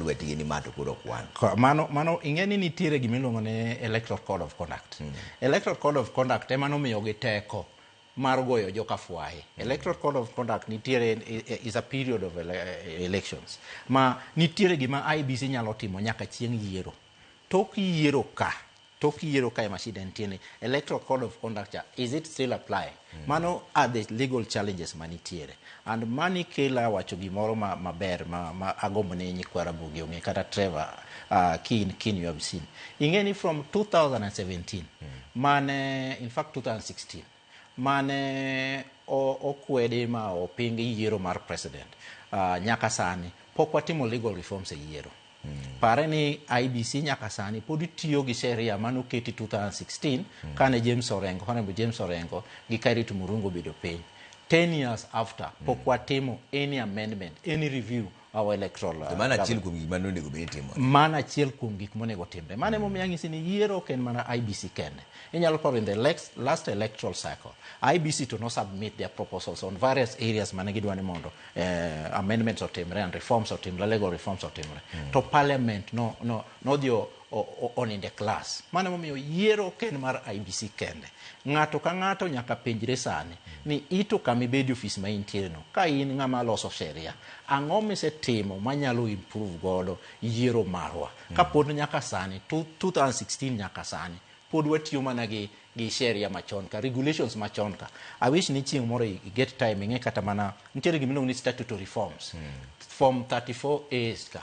lwetgi ni ma to koro ok wan. Ko- Mano, mano ing'e ni nitiere gima iluongo ni Electoral Code of Conduct. Electoral Code of Conduct ema nomiyogi teko mar goyo joka fwaye. Electoral Code of Conduct nitiere i- i- is a period of ele, elections ma nitiere gima IBC nyalo timo nyaka chieng' yiero. Tok yiero ka Tok yiero kae ma shida nitie ni electoral code of conduct cha is it still applying? Mm. Mano are the legal challenges manitiere. And mani kela wacho gimoro ma maber ma, ma agombo ni nyikwa Ramogi ong'e kata Trevor uh, Kin Kin you have seen. Ing'e ni from 2017 mm. mane in fact 2016 mane okwedi ma oping yiero mar president uh, nyaka sani pok watimo legal reforms e yiero mm. pare ni IBC nyaka sani pod tiyo gi sheria mane oketi 2016 mm. kane James Orengo honorable James Orengo gi Kairit Murungu obedo piny 10 years after pok mm. watimo any amendment any review our electoral uh, mano achiel kuom gik mane onego bed timore mano achiel kuom gik monego timre mano ema omiyo ang'isi ni yiero ok en mana IBC kende inyalo paro in the lex- last electoral cycle IBC to no submit their proposals on various areas mane gidwa ni mondo eh, amendments otimre and reforms otimre legal reforms otimre to parliament no no nodhi o- onindo e klas. Mano emomiyo yiero ok en mar IBC kende. Ng'ato ka ng'ato nyaka penjre sani ni ito kama ibede ofis ma intiereno, ka in ng'ama loso sheria, ang'o misetimo manyalo improve godo yiero marwa? Mm. Ka pod nyaka sani, 2016 nyaka sani, pod watiyo mana gi gi sheria machon ka regulations machon ka i wish ni chieng moro i get time ing'e kata mana nitiere gimiluongo ni statutory forms mm. form 34 as ka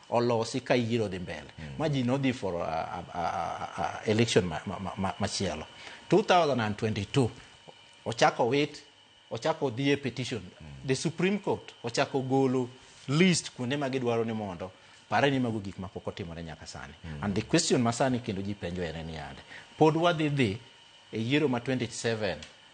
olosi ka yiero dhi mbele mm. ma ji nodhi for uh, uh, uh, uh, election machielo ma, ma, ma 2022 ochako wit ochako dhi e petition mm. the supreme court ochako golo list kuonde ma gidwaro ni mondo pare ni mago gik ma pok otimore nyaka sani mm. and the question ma sani kendo ji penjo ere ni yande pod wadhi dhi e yiero ma 27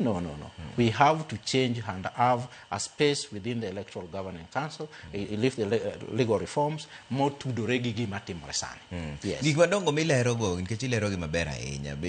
No, no, no. We have to change and have a space within the Electoral Governing Council, i- i- lift the le- uh, legal reforms, more tudore gi gima timore sani. Yes. gik madongo milerogo nikech ilerogi maber ahinya be